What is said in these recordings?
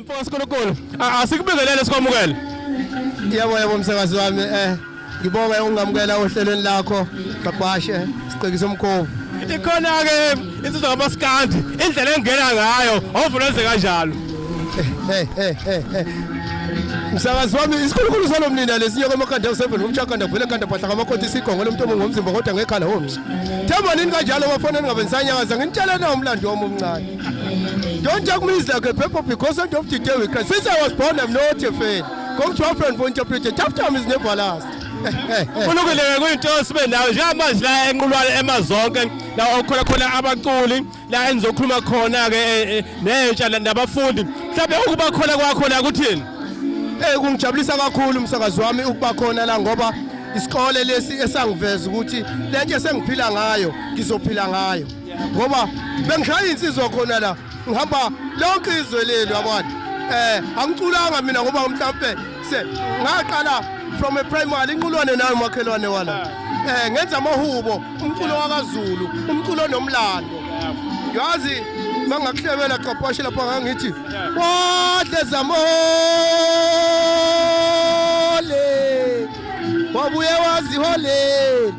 Mfoka Sikolokolo, asikubingelele sikwamukele. Yebo yebo msakazi wami eh ngibonga ungamukela ohlelweni lakho babhashe siqekisa umkhovu. Ikhona ke insizwa kaMaskandi indlela engena ngayo ovuleze kanjalo. Hey hey hey hey. Msakazi wami isikhulukhulu salomnina lesinye komakanda u7 umchakanda vele kanda phahla kamakhothi isigongo lomntu omungu ngomzimba kodwa ngekhala homes. Themba nini kanjalo bafona ningabe nisanyakaza nginitshela na umlando wami omncane. Don't talk me is like a people because end of the day we can. Since I was born, I'm not a fan. Come to our friend for interpretation. Tough time is never last. uNkululeke kuyinto sibe nayo njengamanje la enqulwane emazonke la okhona khona abaculi la enizokhuluma khona ke eh, eh, nentsha nabafundi mhlawumbe ukuba khona kwakho la kuthini eh kungijabulisa kakhulu umsakazi wami ukuba khona la ngoba isikole lesi esangiveza ukuthi lento esengiphila ngayo ngizophila ngayo ngoba bengishaya insizwa khona la ngihamba lonke izwe leli yabona eh angiculanga mina ngoba mhlambe se ngaqala from a primary inqulwane nayo makhelwane wala eh ngenza amahubo umculo wakaZulu umculo nomlando yazi mangakuhlebela qapashe lapha ngangithi wadle zamole wabuye waziholela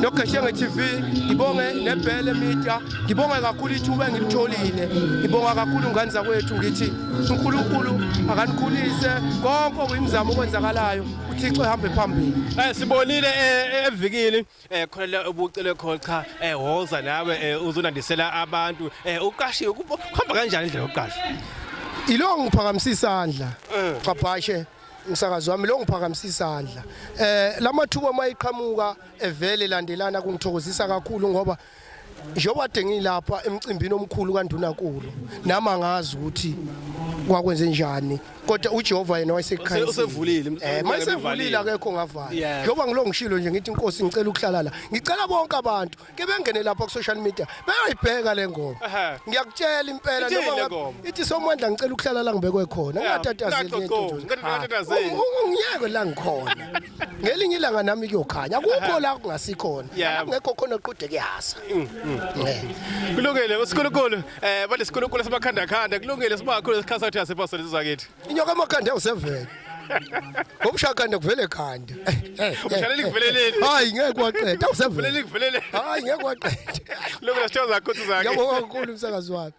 noGeshenge TV ngibonge nebhele media ngibonge kakhulu ithuba engilitholile ngibonga kakhulu ngane zakwethu ngithi uNkulunkulu akanikhulise konke okuyimizamo okwenzakalayo uThixo ehambe phambili eh sibonile eh, eh, evikini eh khona ubucele khona cha eh woza nawe eh, uzonandisela abantu eh uqashiwe kuhamba kanjani indlela yokuqasha ilo ngiphakamise isandla cabhashe eh. msakazi wami lo ngiphakamisa isandla eh lamathuba mayiqhamuka evele landelana kungithokozisa kakhulu ngoba njengoba de ngilapha emcimbini omkhulu kandunankulu nami angazi ukuthi kwakwenze njani kodwa uJehova yena wayesekhaya usevulile eh mayisevulile akekho ngavala njengoba ngilo ngishilo nje ngithi inkosi ngicela ukuhlala la ngicela bonke abantu ke bengene lapha ku social media bayayibheka le ngoma Ehhe. ngiyakutshela impela Ithini noma le ngabe- ngoma? ithi somandla ngicela ukuhlala la ngibekwe khona Yeah, ngingatatazeli ngicela lento ukuqonda, nje. ngicela ngingatatazeli. Ungi- ungi- ngiyeke la ngikhona ngelinye ilanga nami kuyokhanya akukho la kungasikhona Yeah. La kungekho khona oqhude kuyasa Eh. kulungile usikhulukulu eh balesikhulukulu sibakhandakhanda kulungile sibakhulu sikhathi sathi asipasele zakithi inyoka emakhanda usevele Ngomshakanda kuvele khanda. Ushalela ikuveleleni. Hayi ngeke kwaqeda awusevele. Uvele ikuveleleni. Hayi ngeke kwaqeda. Lokho la show zakho zakhe. Yabonga kakhulu umsakazi wakho.